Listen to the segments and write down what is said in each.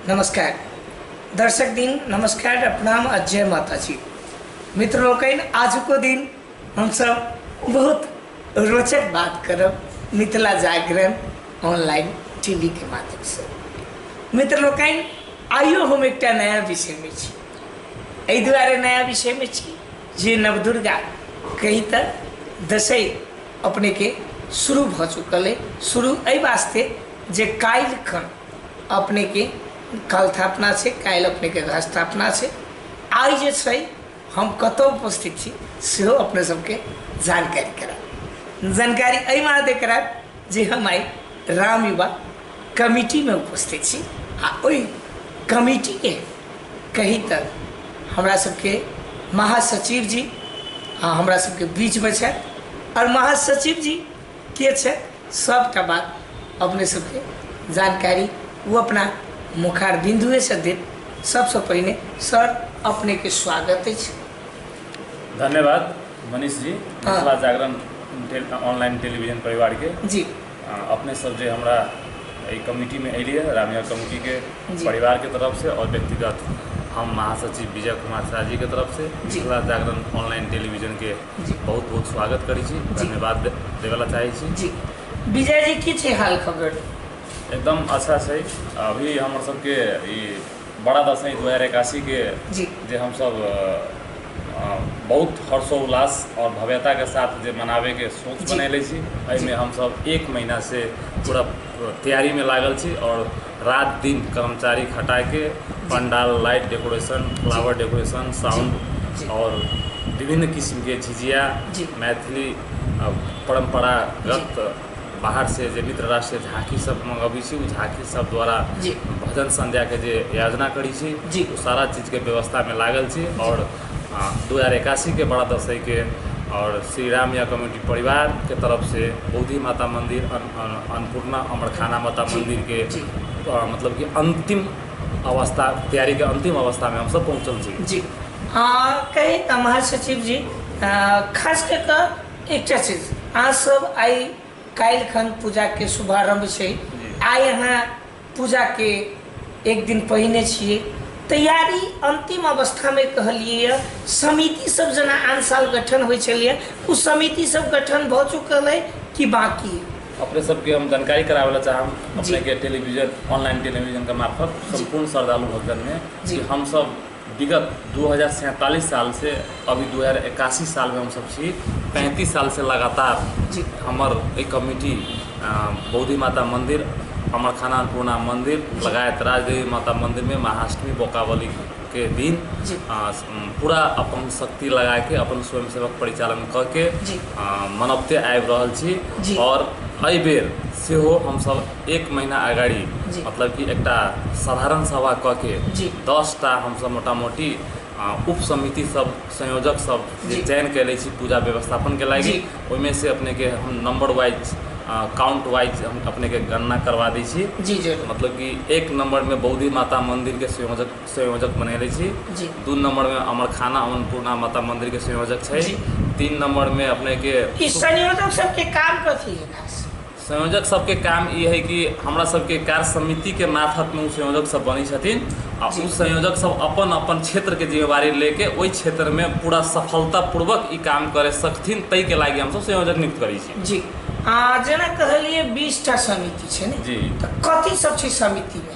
नमस्कार दर्शक दिन नमस्कार आ प्रणाम आ जय माता जी मित्र लोकनि आजुको दिन हमसब बहुत रोचक बात करब मिथिला जागरण ऑनलाइन टीवी के माध्यम से मित्र लोकनि आइयो हम एकटा नया विषय में छी एहि दुआरे नया विषय में छी जे नवदुर्गा कही तऽ दसै अपनेके शुरू भऽ चुकल अइ शुरू एहि वास्ते जे काल्हिखन अपनेके कलथापना छै काल्हि अपनेके घस्थापना छै आइ जे छै हम कतऽ उपस्थित छी सेहो अपने सबके जानकारी कराएब जानकारी एहि मादे कराएब जे हम आइ राम युवा कमिटीमे उपस्थित छी आ ओहि कमिटीके कही तऽ हमरा सबके महासचिव जी आ हमरा सबके बीचमे छथि आओर महासचिव जी के छै सबटा बात अपने सबके जानकारी ओ अपना मुखार बिन्दुएसँ देत सबसँ पहिने सर अपनेके स्वागत अछि धन्यवाद मनीष जी मिथिला जागरण टे- ऑनलाइन टेलीविजन परिवार के जी अपने सब जे हमरा एहि कमिटीमे एलियै रामिया कमिटीके जी। परिवारके तरफसँ आओर व्यक्तिगत हम महासचिव विजय कुमार शाह जीके तरफसँ जी। मिथिला जागरण ऑनलाइन टेलीविजनके जी। बहुत बहुत स्वागत करै छी जी। धन्यवाद दे- देबय ला चाहै छी जी विजय जी की छै हाल खबर एकदम अच्छा छै अभी हमर सबके ई बड़ा दसैँ दू हजार एकासीके जे हमसब बहुत हर्षोल्लास आओर भव्यताके साथ जे मनाबैके सोच बनेने छी एहिमे हमसब एक महिनासँ पूरा तैयारीमे लागल छी आओर राति दिन कर्मचारी खटाके पण्डाल light decoration flower decoration sound आओर विभिन्न किसिमके झिझिया मैथिली परम्परागत बाहरसँ जे मित्र राष्ट्रसँ झाँकी सब मँगबै छी ओ झाँकी सब द्वारा जी भजन संध्याके जे आयोजना करै छी जी ओ सारा चीजके व्यवस्थामे लागल छी आओर दू हजार एकासीके बड़ा दसैके आओर श्री राम या कमेटी परिवारके तरफसँ बौद्धि माता मन्दिर अन्नपूर्णा अमरखाना माता मन्दिरके मतलब कि अन्तिम अवस्था तैयारीके अन्तिम अवस्थामे हमसब पहुँचल छी जी कही तऽ महासचिव जी खास कऽ कऽ एकटा चीज अहाँ सब आइ काल्हि खन पूजा के शुभारंभ छै जी। आइ अहाँ पूजा के एक दिन पहिने छियै तैयारी अंतिम अवस्था में कहलियै यऽ समिति सब जेना आन साल गठन होइ छलैए ओ समिति सब गठन भऽ चुकल अइ कि बाकी अइ? अपने सबके हम जानकारी करावे ला चाहब अपने जी। के टेलीविजन ऑनलाइन टेलीविजन के मार्फत संपूर्ण श्रद्धालु भक्तन में जी। कि हम सब विगत दू हजार सैंतालिस सालसँ अभी दू हजार एकासी सालमे हमसभ छी पैंतीस सालसँ लगातार जी। हमर ई कमिटी अ, बौद्धि माता मन्दिर हमर खाना अन्नपूर्णा मन्दिर लगायत राजदेवी माता मन्दिरमे महाअष्टमी बोकावली के दिन जी। अ, स- म, पूरा अपन शक्ति लगाके अपन स्वयंसेवक परिचालन कऽ के जी। अ, मनौते आबि रहल जी। छी आओर एहि बेर सेहो हमसभ एक महिना अगाडि मतलब कि एकटा साधारण सभा कऽ के दसटा हमसभ मोटा मोटी उप समिति सब संयोजक सब जे चयन कयले छी पूजा व्यवस्थापनके लागि ओहिमे से अपनेके हम नम्बर वाइज काउंट वाइज हम अपनेके गणना करवा दै छी जी जी मतलब कि एक नम्बरमे बौद्धि माता मन्दिरके संयोजक संयोजक बनैले छी जी दू नम्बरमे अमरखाना अन्नपूर्णा माता मन्दिरके संयोजक छै तीन नम्बरमे अपनेके संयोजक सबके काम कथी है खास संयोजक सबके काम ई है कि हमरा सबके कार्य समिति के मार्फत में उ संयोजक सब बनी छथिन आ उ संयोजक सब अपन अपन क्षेत्र के जिम्मेवारी लेके ओहि क्षेत्र में पूरा सफलता पूर्वक ई काम करे सकथिन तई के लागी हम सब संयोजक नियुक्त करी छी जी आ जेना कहलिए बीस टा समिति छै ने जी तऽ कथी सब छै समिति में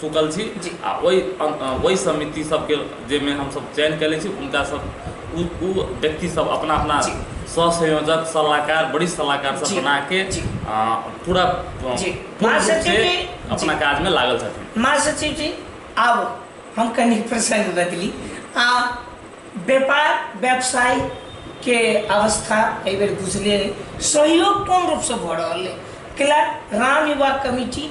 सुतल छी जी आ ओहि ओहि समिति सभके जाहिमे हमसभ चयन कयने छी हुनकासभ ओ ओ व्यक्तिसभ अपना अपना जी सह संयोजक सलाहकार वरिष्ठ सलाहकार सब जी बना के जी आ, पूरा अ, जी। पूर्ण माँ रूप सचिव से जी, अपना जी। काज में लागल छथिन माँ सचिव जी आब हम कनि प्रसंग बदली आ व्यापार व्यवसाय के अवस्था एहि बेर बुझले रहै। सहयोग कोन रूपसँ भऽ रहल अइ कैला राम युवा कमिटी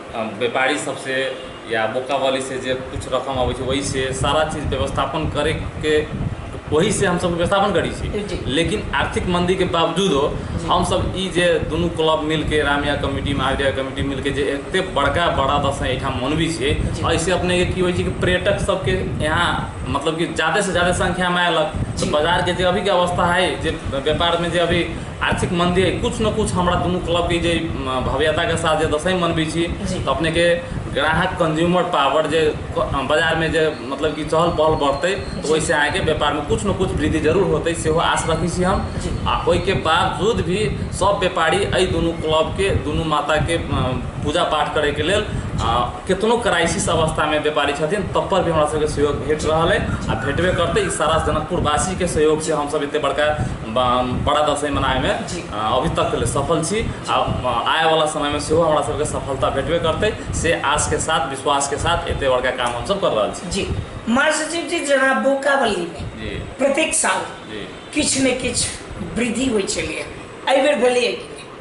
व्यापारी सबसँ या बोकावालीसँ जे किछु रकम अबै छै ओहिसँ सारा चीज व्यवस्थापन करैके ओहिसँ हमसब व्यवस्थापन करै छी जी। लेकिन आर्थिक मन्दीके बावजूदो जी। हमसब ई जे दुनू क्लब मिलके रामया कमिटी महाविद्या कमिटी मिलके जे एते बड़का बड़ा दसैँ एहिठाम मनबै छियै जी। एहिसँ अपनेके की होइ छै कि पर्यटक सबके यहाँ मतलब कि जादेसँ जादे संख्यामे अयलक जी। तऽ बाजारके जे अभीके अवस्था हइ जे व्यापारमे जे अभी आर्थिक मन्दी अइ किछु ने किछु हमरा दुनू क्लबके जे भव्यताके साथ जे दसैँ मनबै छी तऽ अपनेके ग्राहक कन्ज्यूमर पावर जे बजारमे जे मतलब कि चहल पहल बढ़तै तऽ ओहिसँ अहाँके व्यापारमे किछु ने किछु वृद्धि जरूर होतै सेहो आश रखै छी हम आ ओहिके बावजूद भी सभ व्यापारी एहि दुनू क्लबके दुनू माताके पूजा पाठ करैके लेल केतनो क्राइसिस अवस्थामे व्यापारी छथिन तब पर भी हमरा सभके सहयोग भेट रहल अइ आ भेटबे करतै ई सारा जनकपुरवासीके सहयोगसँ हमसभ एतेक बड़का बड़ा दसैँ मनाबैमे अभी तक लेल सफल छी आ आएवला समयमे सेहो हमरा सबके सफलता भेटबे करतै से आशके साथ विश्वासके साथ एते बड़का काम हमसब कर रहल छी जी महासचिव जी जेना बोकावलीमे प्रत्येक साल किछु ने किछु वृद्धि होइ छलैए एहि बेर भेलैए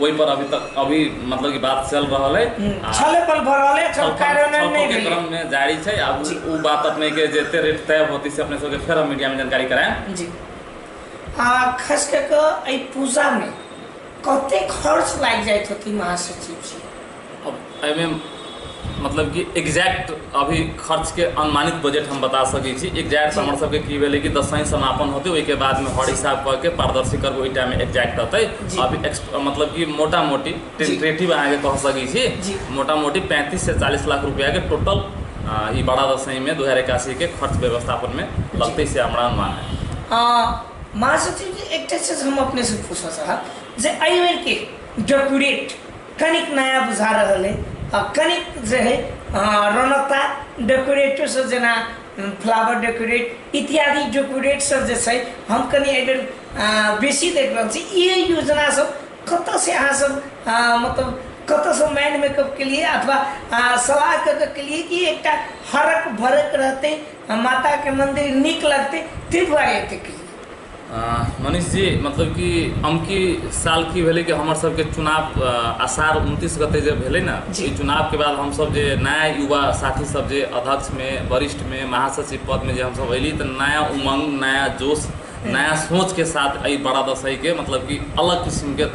ओहि पर अभी तक अभी मतलब कि बात चल रहल है आ छले पल भर रहले छल छलफल- कार्यान्वयन छलफल नहीं के भेलै। क्रम मे जारी छै आ उ- जी। उ बात अपने के जे एते रेट तय होती से अपने सबके फेर हम मीडिया में जानकारी कराएं जी आ खास कऽ कऽ एहि पूजामे कते खर्च लागि जाइत होती महासचिव जी एहिमे मतलब कि एक्जैक्ट अभी खर्चके अनुमानित बजट हम बता सकै छी एक्जैक्ट जी हमर सबके की भेलै कि दसैं समापन होतै ओहिके बादमे हर हिसाब कऽ के पारदर्शी करबै ओहि टाइममे एक्जैक्ट रहतै जी अभी मतलब कि मोटा मोटी जी टेंटेटिव अहाँके कह सकै छी जी मोटा मोटी पैंतीस से चालीस लाख रुपआ के टोटल ई बड़ा दसैंमे दू हजार एकासी के खर्च व्यवस्थापनमे जी लगतै से हमरा अनुमान है आ महासचिव जी एकटा चीज हम अपने से पूछऽ चाहब जे एहि बेर के डेप्यूटेड कनिक नया बुझा रहल अइ आ कनिक जे हइ अहाँ रौनकता डेकोरेटो सब जेना फ्लावर डेकोरेट इत्यादि डेकोरेट सब जे छै हम कनि एहि बेर अ, बेसी देख रहल छी ई योजना सब कतऽ से अहाँ सब अ, मतलब कतऽ से माइंड मेकअप के लिए अथवा अ, सलाह कऽ कऽ के लिए कि एकटा हरक भरक रहतै आ माता के मंदिर नीक लगतै ताहि दुआरे एते के लिए मनीष जी मतलब कि अमकी साल की भेलै कि हमर सबके चुनाव असार उनतीस गते जे भेलै ने जी चुनावके बाद हमसब जे नया युवा साथी सब जे अध्यक्षमे वरिष्ठमे महासचिव पदमे जे हमसब अयली तऽ नया उमङ्ग नया जोश नया सोचके साथ एहि बड़ा दसैके मतलब कि अलग किसिमके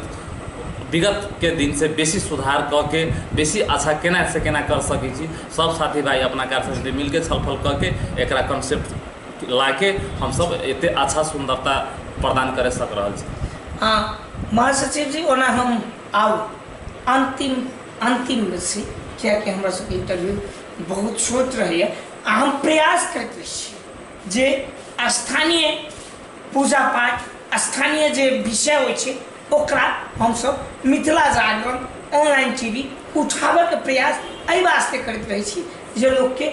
विगतके दिनसँ बेसी सुधार कऽ के बेसी अच्छा केना से केना कर सकै छी सब साथी भाइ अपना कार्यसमिति मिलके छलफल कऽ के एकरा कन्सेप्ट लाके हमसब एते अच्छा सुन्दरता प्रदान करि सक रहल छी हँ महासचिव जी ओना हम आउ अन्तिम अन्तिममे छी कियाकि हमरा सबके इन्टरव्यू बहुत छोट रहैए आ हम प्रयास करैत रहै छी जे स्थानीय पूजा पाठ स्थानीय जे विषय होइ छै ओकरा हमसब Mithila Jagran online T V उठाबैके प्रयास एहि वास्ते करैत रहै छी जे लोकके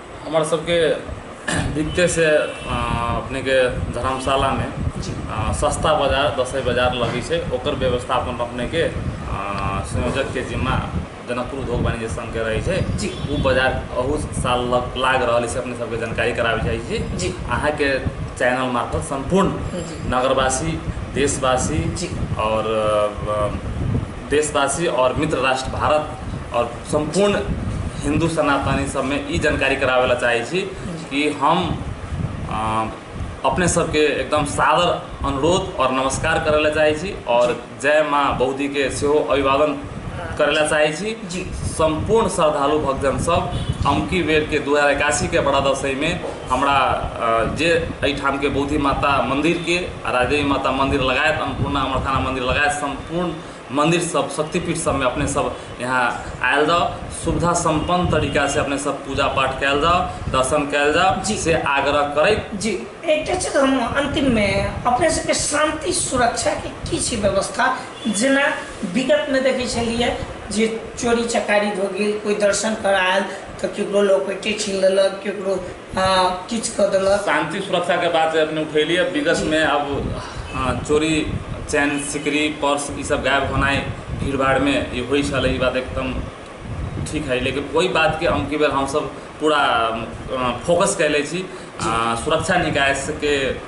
हमर सबके दिकतेसँ अपनेके धर्मशालामे सस्ता बजार दसइ बजार लगै छै ओकर व्यवस्थापन अपनेके संयोजकके जिम्मा जनकपुर उद्योग वाणिज्य संघके रहै छै ओ बजार अहू साल लागि रहल अछि अपने सबके जानकारी कराबै चाहै छी अहाँके चैनल मार्फत सम्पूर्ण नगरवासी देशवासी आओर देशवासी आओर मित्र राष्ट्र भारत आओर सम्पूर्ण हिन्दू सनातनी सभमे ई जानकारी कराबै लए चाहै छी कि हम अपने सभके एकदम सादर अनुरोध आओर नमस्कार करै लए चाहै छी आओर जय माँ बौद्धीके सेहो अभिवादन करै लए चाहै छी जी सम्पूर्ण श्रद्धालु भक्तजन सभ अमकी बेरके दू हजार एकासीके बड़ा दसैँमे हमरा अ, जे एहिठामके बौद्धि माता मन्दिरके आ राजदेवी माता मन्दिर लगायत अन्नपूर्णा अमरथाना मन्दिर लगायत सम्पूर्ण मन्दिर सब शक्तिपीठ सबमे अपने सब यहाँ आयल जाउ सुविधा सम्पन्न तरीका से अपने सब पूजा पाठ कयल जाउ दर्शन कयल जाउ जी। से आग्रह करैत जी एकटा चीज हम अन्तिममे अपने सबके शान्ति सुरक्षाके की छै व्यवस्था जेना विगतमे देखै छलियै जे चोरी चकारी भऽ गेल कोइ दर्शन करऽ आयल तऽ केकरो लॉकेटे छीन लेलक केकरो हाँ किछु कऽ देलक शांति सुरक्षा के बात अपने उठेली अब विगत जी। में अब हाँ, चोरी चैन सिकरी पर्स ई सब गायब होनाई भीड़ भाड़ में ई होई छल ई बात एकदम ठीक है लेकिन वही बात के अमकी बेर हम सब पूरा अ, फोकस कैले छी जी अ, सुरक्षा निकाय से के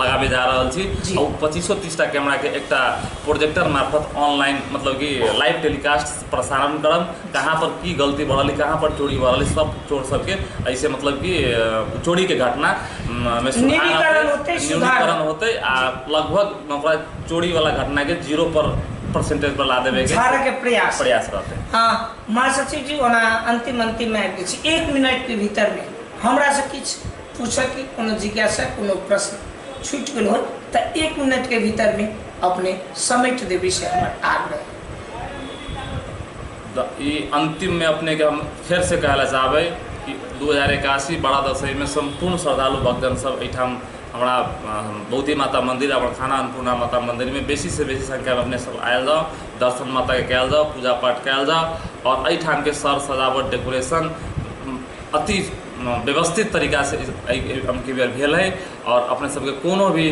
लगाबे जा रहल छी जी। आ ओ पच्चीसो तीसटा कैमराके एकटा प्रोजेक्टर मार्फत ऑनलाइन मतलब कि लाइव टेलीकास्ट प्रसारण करब कहाँ पर की गलती भऽ रहल अइ कहाँ पर चोरी भऽ रहल अइ सब चोर सबके एहिसँ मतलब कि अ, चोरीके घटना म, मे सुधार औतै न्यूनीकरण होतै, सुधार न्यूनीकरण होतै। होतै आ जी। लगभग ओकरा चोरीवला घटनाके जीरो पर परसेंटेज पर ला देबेके झाड़यके प्रयास हेतै। प्रयास रहतै हँ महासचिव जी ओना अन्तिम अन्तिममे आबि गेल छी एक मिनटके भीतरमे हमरासँ किछु पूछक कि कोनो जिज्ञासा कोनो प्रश्न छूटि गेल होत तऽ एक मिनटके भीतरमे अपने समेट देबै से हमर आग्रह द- ई अंतिम में अपने के हम फेर से कहला चाहबै कि दू हजार एकासी बड़ा दसई में संपूर्ण श्रद्धालु भक्तजन सब एहिठाम हमरा अ, बौद्धि माता मंदिर और खाना अन्नपूर्णा माता मंदिर में बेसी से बेसी संख्या में अपने सब आयल जाओ दर्शन माता के कयल जाओ पूजा पाठ कयल जाओ और एहिठाम के सर सजावट डेकोरेशन अति व्यवस्थित तरीकासँ एहि अबकी बेर भेल हइ आओर अपने सबके कोनो भी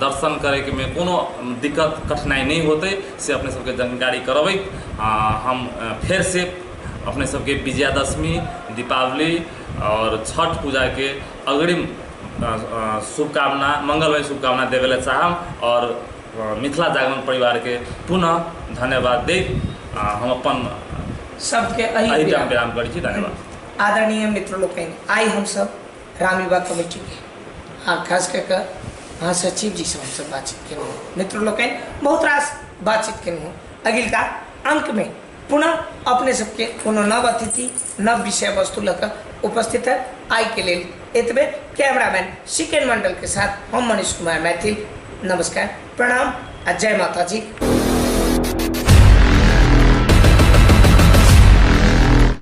दर्शन करैकेमे कोनो दिक्कत कठिनाइ नहि होतै से अपने सबके जानकारी करबैत हम फेरसँ अपने सबके विजयादशमी दीपावली आओर छठ पूजाके अग्रिम शुभकामना मङ्गलमय शुभकामना देबैलए चाहब आओर मिथिला जागरण परिवारके पुनः धन्यवाद दैत हम अपन सबके एहि विराम करै छी धन्यवाद आदरणीय मित्र लोकनि आइ हमसब रामयुवा कमेटी के आ खास कऽ कऽ महासचिव जी से हमसब बातचीत केलहुँ हँ। मित्र लोकनि बहुत रास बातचीत केलहुँ हँ। अगिलका अंक में पुनः अपने सबके कोनो नव अतिथि नव विषय वस्तु लऽ कऽ उपस्थित है आइ के लेल एतबे कैमरामैन सिकेन मंडल के साथ हम मनीष कुमार मैथिल नमस्कार प्रणाम आ जय माता जी